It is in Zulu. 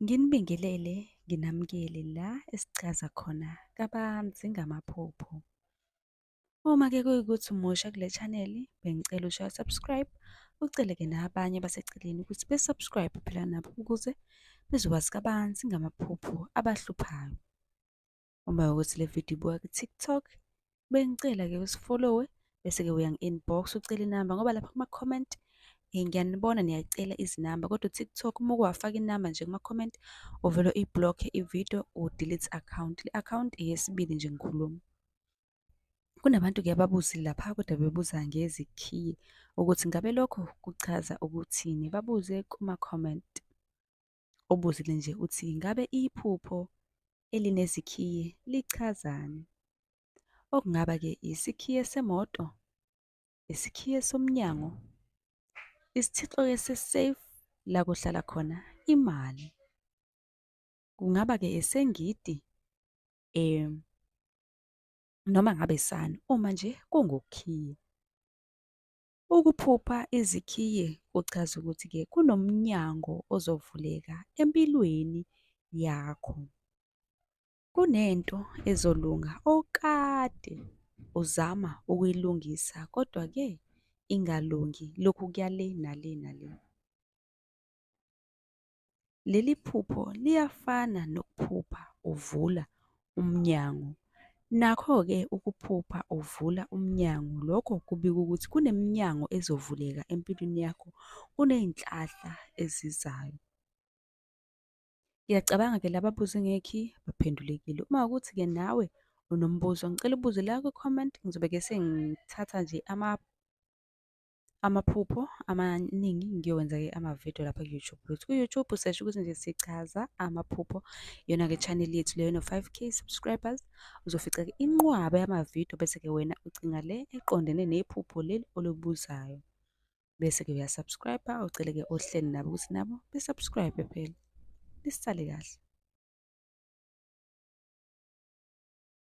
Nginibingelele nginamukele la esichaza khona kabanzi ngamaphupho. Uma ke kuyikuthi umusha kule channel bengicela ushaye subscribe uceleke nabanye baseceleni ukuthi besubscribe phela nabo ukuze bezokwazi kabanzi ngamaphupho abahluphayo. uma ukuthi le video ibuka ku-tiktok bengicela-ke usifollowe bese-ke uyangi-inbox ucela inamba ngoba lapha kuma-comment um ngiyanibona niyacela izinamba kodwa u-tiktok uma ukuwafaka inamba nje kuma-comment uvele uyi-block-e i-video u-delete account le account eyesibili nje ngikhuluma kunabantu ke ababuzile lapha kodwa bebuza ngezikhiye ukuthi ngabe lokho kuchaza ukuthini babuze kuma-comment obuzile nje uthi ngabe iphupho elinezikhiye lichazani? Okungaba ke isikhiye semoto, isikhiye somnyango, isithixo ke se-safe la kuhlala khona imali. Kungaba ke esengidi um noma ngabe sani uma nje kungukhiye. Ukuphupha izikhiye kuchaza ukuthi-ke kunomnyango ozovuleka empilweni yakho. Kunento ezolunga okade uzama ukuyilungisa kodwa-ke ingalungi, lokhu kuya le nale nale. Leli phupho liyafana nokuphupha uvula umnyango. Nakho-ke ukuphupha uvula umnyango, lokho kubika ukuthi kuneminyango ezovuleka empilweni yakho, kuney'nhlahla ezizayo. Ngiyacabanga-ke laba buze ngekhi baphendulekile. Uma ukuthi-ke nawe unombuzo, ngicela ubuze la kwi-comment, ngizobe-ke sengithatha nje ama amaphupho amaningi ngiyowenza ke amavidiyo lapha ku-youtube lutho ku-youtube usesho ukuthi nje sichaza amaphupho yona-ke channel yethu leyo no-five k subscribers uzofica-ke inqwaba yamavidiyo bese-ke wena ucinga le eqondene nephupho leli olubuzayo bese-ke uyasubscribe ucele-ke ohleli nabo ukuthi nabo besubscribe phela lisale kahle